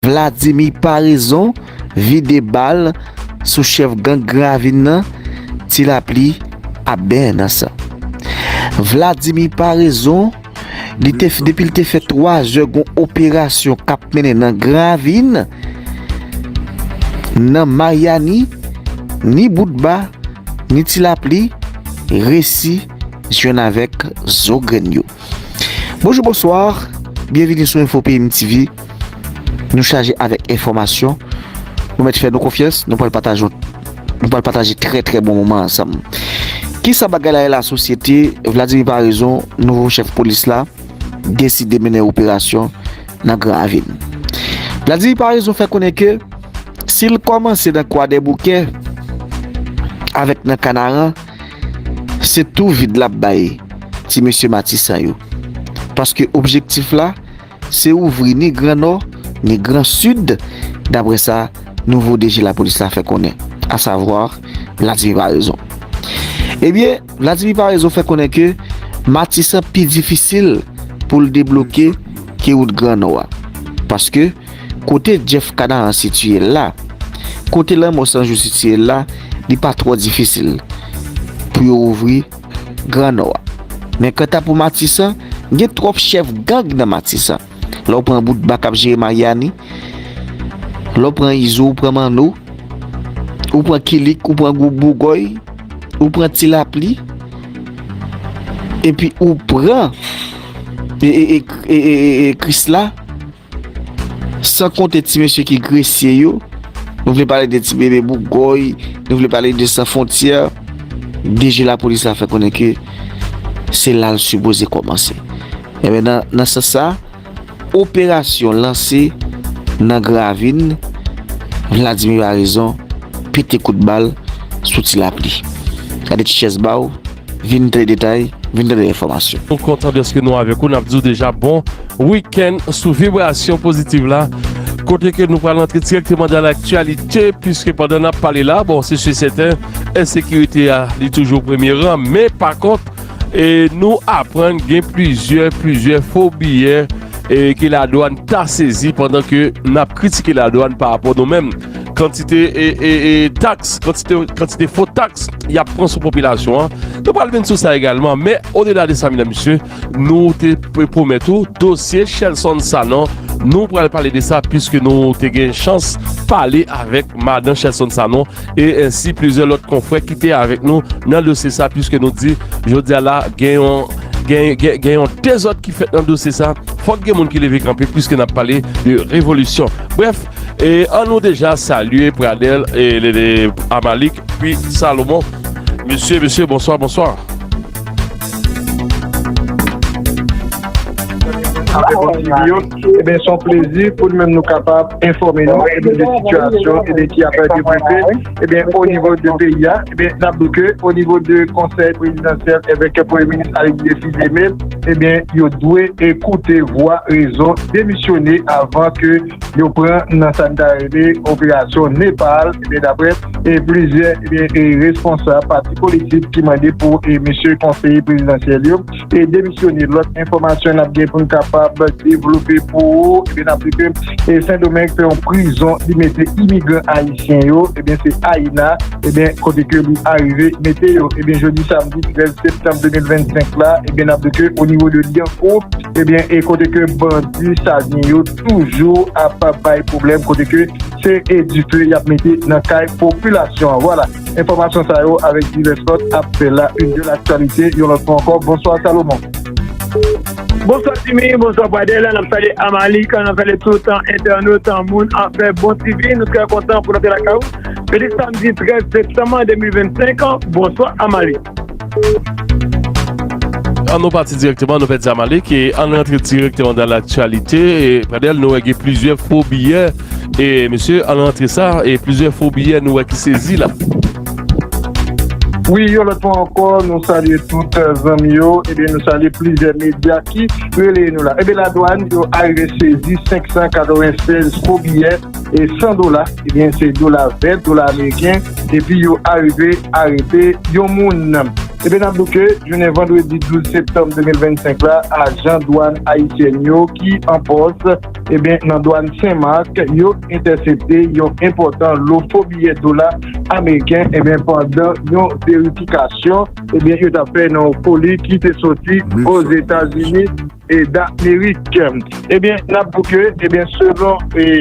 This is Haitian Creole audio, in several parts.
Vladimi Paraison vide bal sou chèf gang Gran Ravin nan, Ti Lapli ap benyen nan san. Vladimi Paraison, depi l te fè 3 zè gon operasyon k ap mennen nan Gran Ravin, nan Maryani, ni Boutba, ni Ti Lapli resi jwenn avèk zo grenn yo. Bonjou, bonswa, byenvini sou Info Peyim TV. Nou chaje avèk enfòmasyon, nou mèt fè nou konfyans, nou pral pataje yon nou pral pataje trè trè bon moman ansanm. Kisa bagay la ye la sosyete, Vladimir Paraison, nouvo chèf polis la, deside mennen operasyon nan Gran Ravin. Vladimir Paraison fè konnen ke si l kòmanse nan Kwadèboukè avèk nan Kanaran, se tou vid l ap bay ti mesye Matisan yo. Paske objektif la, Se ouvri ni gran Nò, ni gran Sid, daprè sa nouvo DG Lapolis la fè konnen, asavwa Vladimir Paraison. Ebyen, Vladimir Paraison fè konnen ke Matisan pi difisil pou l debloke ke wout gran Nò a. Paske, kote Jeff Canaran sitiye l la, kote lanmò 100 jou sitiye l la, li pa twò difisil pou yo ouvri. Gran Nò a. Men kanta pou Matisan, gen twòp chèf gang nan Matisan. Lè w pran Boutba k ap jere Maryani, lè w pran Izo, ou pran Manno, ou pran Kilik, ou pran Gwoup Bougòy, ou pran Ti Lapli, epi ou pran Krisla, San konte ti mesye ki gresye yo, nou vle pale de ti bebe bouk goy, nou vle pale de san fontyè, DG lapolis la fè konnen ke se la l sipoze kòmanse. Enben nan sans sa, operasyon lanse nan gravin, Vladimir Baraison pete kout bal sou ti lapli. Gade ti chèz ba w, vin tande detay, vin tande enfòmasyon. Nou kontan dèske nou avèk ou, n ap di w deja bon. Week-end sou Vibration Positive la kote ke nou pral antre direkteman dan laktyalite pwiske pandan nap pale la bon se si sèten ensekirite a li toujou premye ran men pa kont e nou aprann gen plizyè plizyè fo biyè e ke la dwan ta sezi pandan ke nap kritike la dwan pa rapò nou menm kantite e e e taks kantite kantite fo taks yap pran sou popilasyon an nou pral vin sou sa egalman men o de la de sa medan misye Nou te pwomèt ou dosye Shelson Sanon Nou pral pale de sa Piske nou te gen chans Pale avèk madan Shelson Sanon E ensi plizyè lòt konfrè Ki te avèk nou nan dosye sa Piske nou di Jodi a la gen yon Gen yon dezòd ki fèt nan dosye sa Fòk gen moun ki leve kanpe Piske n ap pale de revolisyon Brèf E an nou deja salye Pradel E Amalik Pi Salomon Mesye mesye bonswa bonswa Ebyen son plezi pou nou menm nou kapab enfòme nou de sitiyasyon e de ki apè de bouke ebyen o nivou de peyi a ebyen nan bouke o nivou de konsèy prezidansyèl evè ke pou eminist a yon defi de mil ebyen yo dwe ekoute vwa rezon demisyone avan ke yo pran nan sa n ta rele operasyon Nepal ebyen dapre e plizyè responsab pati politik ki mande pou mesye konseye prezidansyèl yo te demisyone. Lòt enfòmasyon n ap gen pou n kapab devlope pou ou, n ap li ke Sendomeng fè yon prizon li mete imigran ayisyen yo, ebyen se Ayina, ebyen kote ke li arive mete yo. Ebyen jodi samdi 13 septanm 2025 la, ebyen n ap li ke o nivo de Lyankou, ebyen e kote ke bandi Savyen yo toujou ap bay pwoblèm kote ke. se e dife yap mete nan kay popilasyon an vwala enfòmasyon sa yo avèk divès lòt ap fè la une de l'actualité yon lòt fwa ankò bonswa Salomon. Bonswa Jimmy, bonswa Pradel, nap salye Amalik, nap salye tout entènot, moun afè Bon TV, nou trè kontan pou nou te lakay ou jodi samdi 13 septanm 2025, bonswa Amalik. An nou pati direkteman nou fè Zamalek e an nou antre direkteman dan laktyalite e pradel nou wè gen plizyè fo biyè e mesye an nou antre sa e plizyè fo biyè nou wè ki sezi la. Wi yon lòt fwa ankò nou salye tout zanmi yo ebyen nou salye plizyè medya ki releye nou la. Ebyen ladwàn yo arive sezi 596 fo biyè. e 100 dola ebyen se dola vèt dola ameriken epi yo arive arete yon moun ebyen nap di w ke jounen vandredi 12 septanm 2025 la ajan dwàn ayisyèn yo ki an pòs ebyen nan dwàn sen mak yo entèsepte yon enpòtan lo fo biyè dola ameriken ebyen pandan yon verifikasyon ebyen yo tap fè nan yon koli ki te soti ozetazini. Eda Meritkemt ebyen n ap di w ke ebyen selon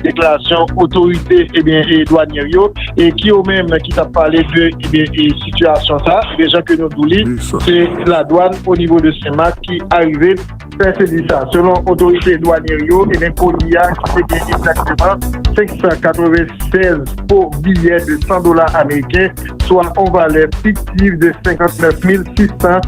deklarasyon otorite ebyen dwanyè yo e ki yo menm ki t ap pale de ebyen sitiyasyon sa a jan ke nou di w li se ladwann onivo de Senmak ki arive fè sezi sa a selon otorite dwanyè yo ebyen koli a ki te gen egzakteman 596 fo biyè de 100 dola ameriken swa yon valè fiktif de 59,600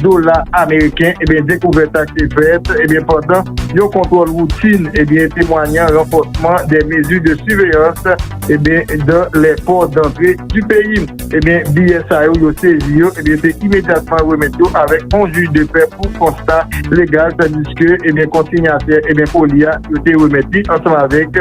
dola ameriken, dekouvèt sa te fèt pandan yon kontwòl woutin temwanyan ranfòsman de mezi de siveyans dan lè pò dantre di peyi. Biyè sa yo, yo sezi yo, te imedyatman remèt yo avèk yon jij de pè pou konsta legal tandiske konsinyatè koli a, yo te remèt li ansanm avèk.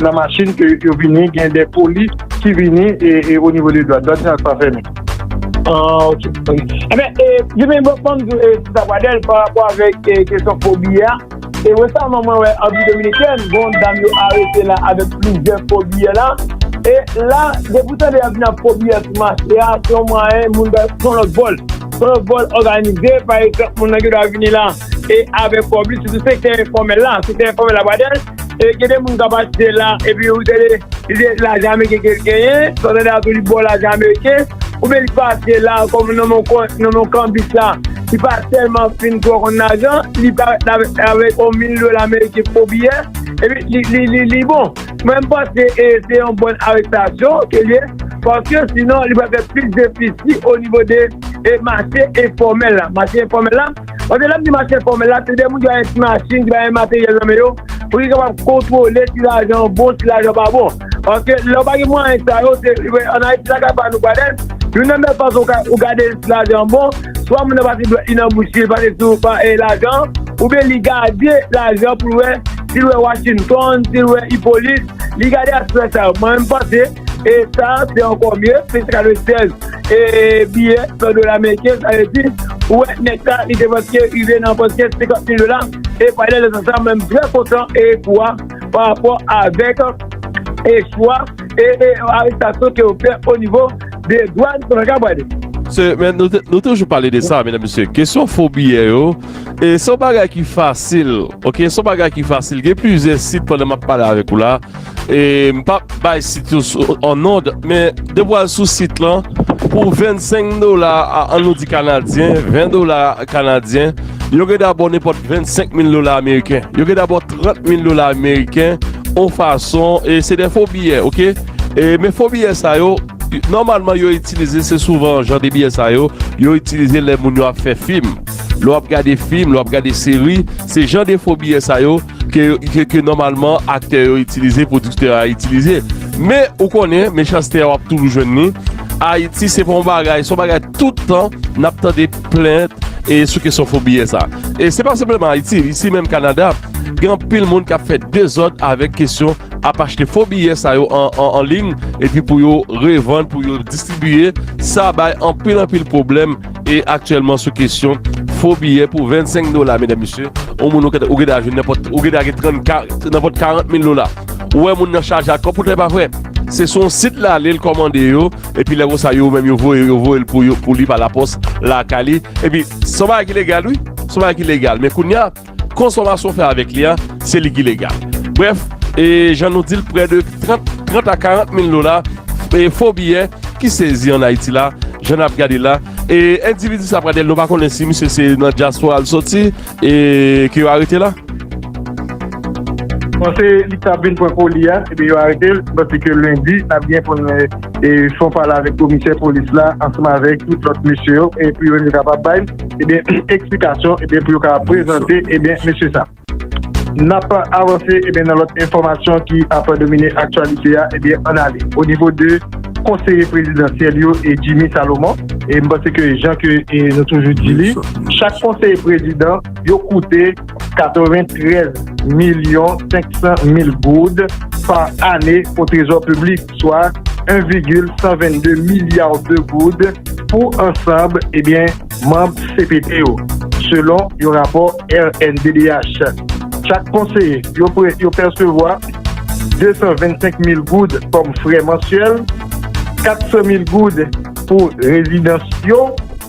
nan machin ke yo vini gen de polis ki vini e o nivo de dwàn dwàn sa pa fèmen. Ah ok ok enben e jimmy bon banm di w e ti sa pradèl pa rapò avèk e kesyon fo biyè a e resaman mwen wè anpi dominikèn gon yon dam yo arete la avèk plizyè fo biyè la e la depi w tande yap vini ak fo biyè sou mache a se yon mwayen moun ta son lòt vòl son yon vòl òganize pa egzanp moun nan gen dwa vini la e avèk kòb li sitou sektè enfòmèl la sektè enfòmèl la pradèl. E gen de moun k ap achte la epi ou tande li se lajan ameriken ke l genyen, sa w tande a tou li ba w lajan ameriken, oubyen li pa achte la kòm nan men yon kanbis la li pa tèlman fin twò konn lajan, li parèt avèk yon mil dola ameriken pou yon biyè epi li bon. Mwen m panse se yon bòn arestasyon ke l ye paske sinon li pral fè plis defisi onivo de mache enfòmèl la. Mache enfòmèl la. Paske lè m di mach enfòmèl la, se de moun ki bay yon ti machin, ki bay yon materyèl nan men yo, pou yo kapab kontwole si lajan an bon, si lajan an pa bon. Paske lè ou pa gen mwayen sa yo, se, ann Ayiti lakay pa nou Gwadèn, youn nan meyè fason ou gade si lajan an bon, swa moun nan pase dwèt li nan bouch li, li pase sou lajan an, oubyen li gade lajan pou l wè, si l wè Washington, si l wè Hyppolite, li gade aspè sa yo. Mwen menm m panse. e sa se ankò mye, se te ka dwe 16 e biyè 100 dola meriken, sa vle di ou wè nèg sa li depanse rive nan pòch gen 50 mil dola, e pale de zam sa mwen m trè kontan e pou a pa rapò avèk e chwa e arestasyon ke yo fè o nivo de dwàn se mwen ka pale. Se men nou toujou pale de sa medam mesye kesyon fo biyè yo e son bagay ki fasil ok son bagay ki fasil gen plizyè sit pandan map pale avèk ou la. E m pa bay sit yo an nòd men depi w al sou sit lan pou 25 dola an nou di kanadyen 20 dola kanadyen yo gen dabò nenpòt 25 mil dola ameriken yo gen dabò 30 mil dola ameriken on fason e se de fo biyè ok e men fo biyè sa yo nòmalman yo itilize se souvan jan de biyè sa yo yo itilize lè moun yo ap fè fim lè w ap gade fim lè w ap gade seri se jan de fo biyè sa yo ke nòmalman aktè yo itilize, pwodiktè a itilize. Men, ou konnen, mechanste a w ap toujou jwenn ni. Ayiti se pa yon bagay, se yon bagay tout tan n ap tande plent e sou kesyon fo biyè sa. E se pa senpleman Ayiti, isi menm Kanada, gen anpil moun k ap fè dezòd avèk kesyon ap achte fo biyè sa yo an ling epi pou yo revann, pou yo distribiye. Sa bay anpil anpil pwoblèm E aktyèlman sou kesyon fo biyè pou 25 dola medam mesye, yon moun ou kèt ou geta jwenn nenpòt ou geta gen 30 ka nenpòt 40 mil dola. Ou wè moun nan chaje ak kòb poutèt pa vre. Se sou yon sit lale l kòmande yo epi lè konsa yo menm yo voye yo voye l pou yo pou li pa lapòs lakay li epi son bagay ki legal wi son bagay ki legal men kounya Konsomasyon fè avèk li a, se li ki legal. Brèf, e jan nou di l prè de 30 a 40 mil dola e fo biyè ki sezi an Ayiti la, jan n ap gade la. E endividi sa Pradèl, nou pa konnen si misye se nan dyaspora l soti e ke yo arete la? Panse li t ap vin pran koli a, ebyen yo arete l. Panse ke lendi n ap gen pou n fè yon pale avèk komisè polis la ansanm avèk tout lòt mesye yo e pou yo te kapab bay. ebyen eh eksplikasyon ebyen eh pou yo ka prezante ebyen eh mesye sa. Nap avanse ebyen eh nan lòt enfòmasyon ki ap domine aktyalite a ebyen an ale o nivo de konseye prezidansyèl yo e Jimmy Salomon e m panse ke jan ke nou toujou di li chak konseye prezidan yo koute 93 milyon 500 mil goud pa ane o trezò piblik, swa 1 vigil 122 milya de goud pou ansanb ebyen manb cpt yo, selon yon rapò rnddh. Chak konseye yo pèsevwa 225 mil goud kòm frè mansyèl, 400 mil goud pou rezidans yo.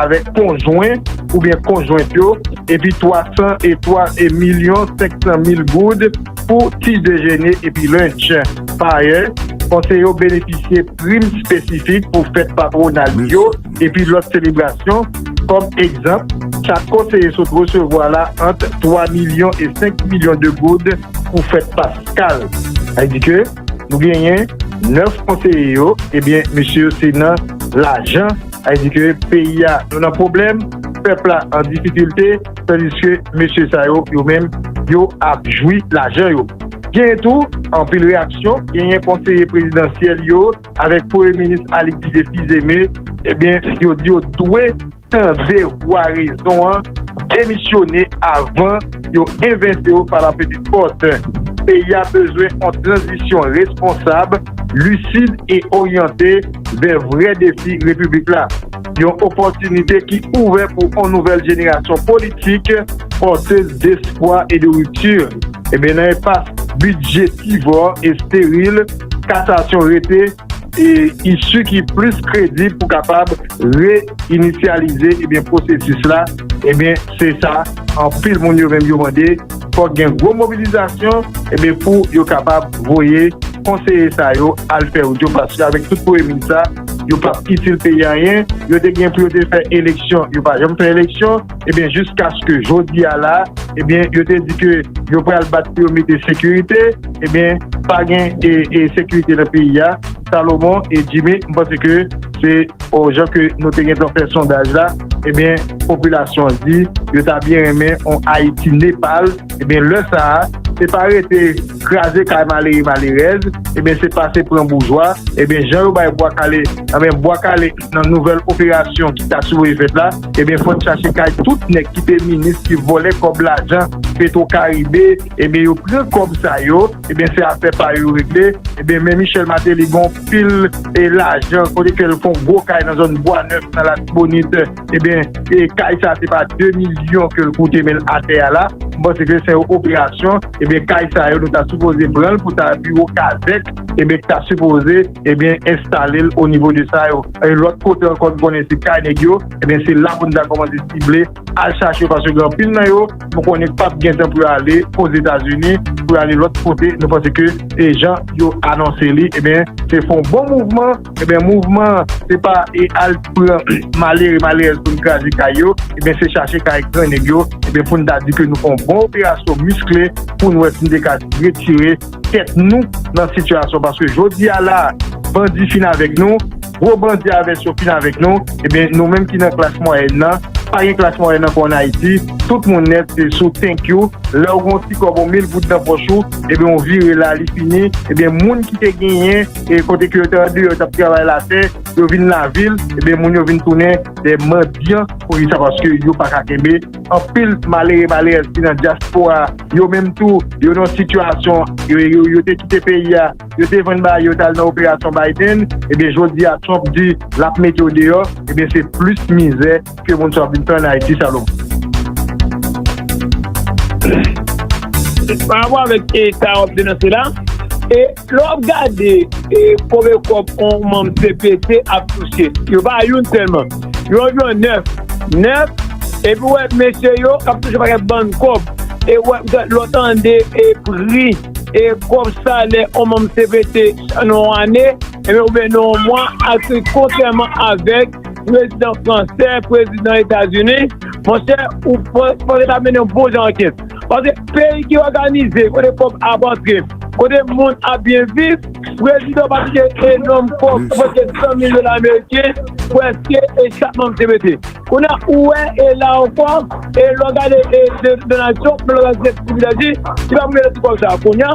avèk konjwen oubyen konjwent yo epi 300 e 3 e milyon 500 mil goud pou ti dejene epi lunch. Pa ayè, konseye yo benefisye prim espesifik pou fèt patwonal yo epi lòt selebrasyon, kòm egzanp, chak konseye sot resevwa la ant 3 milyon e 5 milyon de goud pou fèt paskal. Sa vle di ke nou genyen 9 konseye yo, ebyen mesye yo se nan lajan. Sa di ke peyi a nou nan pwoblèm, pèp la an difikilte, tandiske mesye sa yo, yo menm, yo ap jwi lajan yo. Genyen tou anpil reyaksyon, genyen konseye prezidansyèl yo avèk premye minis Alix Didier Fils-Aimé, ebyen yo di yo dwe tande vwa rezon an, demisyone avan yo envente yo pa la petite porte. Peyi a bezwen yon tranzisyon responsab, lisid e oryante. vè vrè defi Repiblik la, yon opòtinite ki ouvè pou on nouvèl jenerasyon politik pòtez despwa e de ripti. Ebyen nan enpas bidjetivò e steril, kasasyon rete isu ki plis kredib pou kapab re-inisyalize ebyen pwosesis la, ebyen se sa anpil moun yo menm yo mande. fòk gen gwo mobilizasyon ebyen pou yo kapab voye konseye sa yo al fè wout yo paske avèk tout premye minis sa yo pap itil peyi anyen yo te gen pou yo te fè eleksyon yo pa janm fè eleksyon ebyen jiskaske jodi a la ebyen yo te di ke yo pral bat pou yo mete sekirite ebyen pa gen e sekirite nan peyi a Salomon e Jimmy m panse ke Se o jan ke nou te gen tan fè sondaj la, ebyen popilasyon an di yo ta byen renmen on Ayiti Nepal, ebyen lè sa a se pa rete kraze kay malere malerèz, ebyen se pase pran boujwa, ebyen jan yo bay Bwa Kale, ebyen Bwa Kale nan nouvèl operasyon ki ta sipoze fèt la, ebyen fò n chache kay tout nèg ki te minis ki vòlè kòb lajan Petro Caribe, ebyen yo pran kòb sa yo. Ebyen se afè pa yo yo regle. Ebyen men Michel Martelly gon pil e lajan kote ke l fon gwo kay nan zòn bwa nèf nan latibonit ebyen e kay sa se pa 2 milyon ke l koute men atè a la m panse ke se yon operasyon ebyen kay sa yo nou ta sipoze pran l pou ta biwo kazèk ebyen k ta sipoze ebyen enstale l o nivo de sa yo e lòt kote ankò n konnen se kay nèg yo ebyen se la pou n ta kòmanse sible. al chache yo paske gen anpil nan yo nou konnen pap gen tan pou yo ale ozetazini pou yo ale lòt kote nou panse ke e jan yo anonse li ebyen se fon bon mouvman ebyen mouvman se pa e al pran malere malerèz pou n kraze kay yo ebyen se chache kay gran nèg yo ebyen pou n ta di ke nou fon bon operasyon miskle pou n wè si n te ka retire tèt nou nan sitiyasyon paske jodi a la bandi fin avèk nou gwo bandi a vès yo fin avèk nou ebyen nou menm ki nan klas mwayèn nan pa gen klas mwayèn ankò an Ayiti tout moun nèt se sou tenkyou lè ou gen yon ti kòb yon mil goud nan pòch ou ebyen ou vire la li fini ebyen moun ki te genyen e kote ke yo te andeyò yo t ap travay latè yo vin lavil ebyen moun yo vin tounen de mandyan poukisa paske yo pa ka kenbe. Anpil malere malerèz ki nan dyaspora yo menm tou yo nan sitiyasyon yo te kite peyi a, yo te vann bagay yo, yo t al nan operasyon Biden, ebyen jodi a Trump di l ap mete yo deyò, ebyen se plis mizè ke moun sa yo ap vin fè ann Ayiti Salomon. Parapò avèk sa w ap denonse la, e. Lè w ap gade konbyen kòb yon manm cpt ap touche, yo pa youn sèlman, yo anviwon nèf. Nèf, epi w wè mesye yo k ap touche yon pakèt bann kòb. E w wè petèt lè w tande pri kòb salè yon manm cpt nan yon ane oubyen nan yon mwa ak pri kontrèman avèk prezidan fransè, prezidan Etazini, monchè ou fòk yo ta mennen yon bon jan ankèt. Paske peyi ki òganize, kote kòb ap antre, kote moun ap byen viv, prezidan pa kite enòm kòb pou preske 100 mil dola ameriken preske e chak manm te mete. Kounye a ou wè e la ankò e lè w gade e Donald Trump menm lè w gade Steve Buttigieg li pa pou mete tout kòb sa a. Kounye a.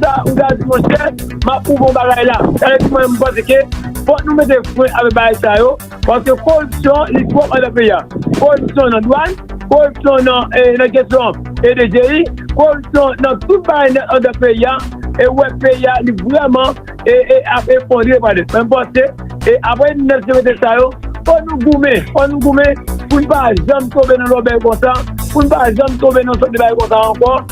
Sa ou ta di monchè, map prouve yon bagay la. Sa vle di mwen menm m panse ke fòk nou mete fren avèk bagay sa yo, paske koripsyon li twòp andan peyi a. Koripsyon nan dwàn, koripsyon nan kesyon DGI, koripsyon nan tout bagay nèt andan peyi a, e ou wè peyi a li vrèman ap efondre pa nèt. Mwen panse e aprè 1921 sa yo, fòk nou goumen, fòk nou goumen pou n pa janm tonbe nan lòbèy konsa, pou n pa janm tonbe nan sòt de bagay konsa ankò.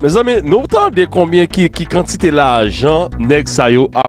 Mezanmi nou tande konbyen ki kantite lajan neg sa yo ap.